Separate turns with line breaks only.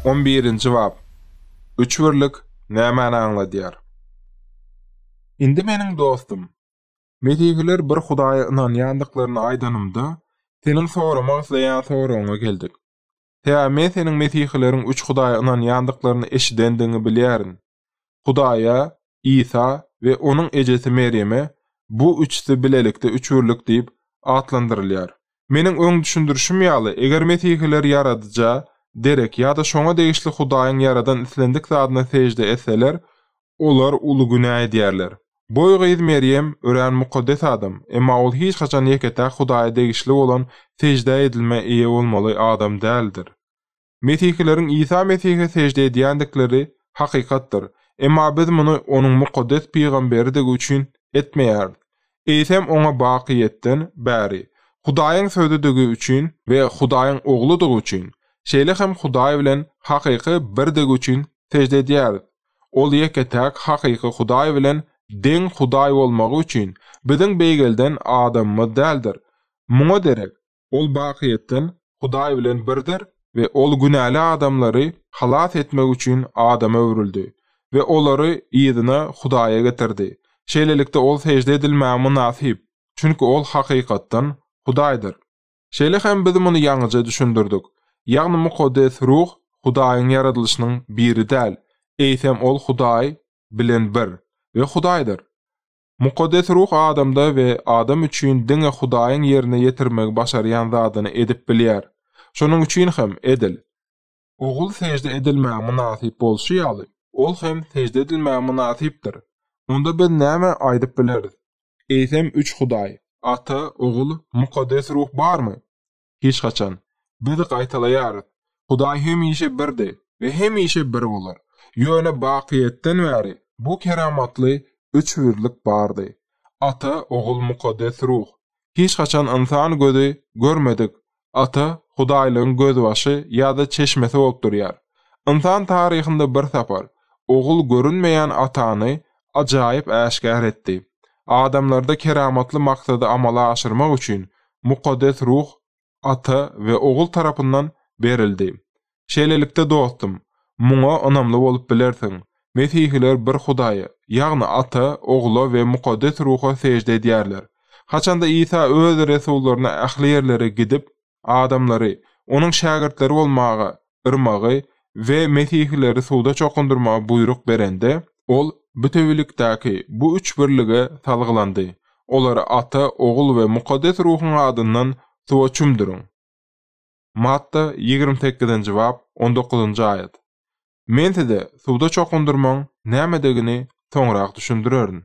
On birinji bap. Üç birlik nämäni aňladýar? Indi meniň dostum, Mesihiler bir Hudaýa ynanýandyklaryny aýdanymda, seniň soramak isleýän soragyňa geldik. Sebäbi men seniň Mesihileriň üç Hudaýa ynanýandyklaryny eşidendigiňi bilýärin. Hudaýa, Isa we onuň ejesi Merýeme bu üçüsi bilelikde üçbirlik diýip atlandyrylýar. Meniň öň düşündirişim ýaly, eger mesihiler Ýaradyja, Derek ýa-da şoňa degişli Hudaýyň ýaradan islendik zadyna sežde etseler, olar uly günä edýärler. Boý gyz Merýem örän mukaddes adam, emma ol hiç haçan ýeke-täk Hudaýa degişli bolan seždä edilmä eýe bolmaly adam däldir. Mesihileriň Isa Mesihe sežde edýändikleri hakykatdyr, emma biz muny Onuň mukaddes pygamberidigi üçin etmeýäris, eýsem Oňa bakyýetden bäri, Hudaýyň Sözüdigi üçin we Hudaýyň Ogludygy üçin, şeýle hem Hudaý bilen hakyky birdigi üçin sežde edýäris. Ol ýeke-täk hakyky Hudaý bilen deň Hudaý bolmagy üçin biziň beýgelden adamymyz däldir. Muňa derek, Ol bakyýetden Hudaý bilen birdir we Ol günäli adamlary halas etmek üçin adama öwrüldi we olary yzyna Hudaýa getirdi. Şeýlelikde, Ol sežde edilmäge mynasyp, çünki Ol hakykatdan Hudaýdyr. Şeýle hem biz muny ýaňyja düşündirdik, ýagny Mukaddes Ruh Hudaýyň ýaradylyşynyň biri däl, eýsem Ol Hudaý bilen bir we Hudaýdyr. Mukaddes Ruh adamda we adam üçin diňe Hudaýyň ýerine ýetirmegi başarýan zadyny edip bilýär. Şonuň üçin hem, edil. Ogul sežde edilmäge mynasyp bolşy ýaly, Ol hem sežde edilmäge mynasypdyr. Onda biz näme aýdyp bileris? Eýsem, üç Hudaý, Ata, Ogul, Mukaddes Ruh barmy? Hiç haçan. Biz gaýtalaýarys. Hudaý hemişe birdi we hemişe bir bolar. Ýöne bakyýetden bäri bu keramatly üçbirlik bardy. Ata, Ogul, Mukaddes Ruh. Hiç haçan ynsan gözi görmedik Ata Hudaýlygyň gözbaşy ýa-da çeşmesi bolup durýar. Ynsan taryhynda bir sapar Ogul görünmeýän Atany ajaýyp äşgär etdi. Adamlarda keramatly maksady amala aşyrmak üçin Mukaddes Ruh Ata we Ogul tarapyndan berildi. Şeýlelikde, dostum, muňa ynamly bolup bilersiň, Mesihiler bir Hudaýa, ýagny Ata, Ogla we Mukaddes Ruha sežde edýärler. Haçanda Isa öz resullaryna ähli ýerlere gidip, adamlary Onuň şägirtleri bolmaga yrmagy we mesihileri suwda çokundyrmagy buýruk berende, Ol bütewilikdäki bu üç birlige salgylandy, Olary Ata, Ogul we Mukaddes Ruhuň adyndan suwa çümdüriň. Matta ýigrimi sekizinji bap, on dokuzynjy aýat. Men size suwda çokundyrmagyň nämedigini soňrak düşündirerin.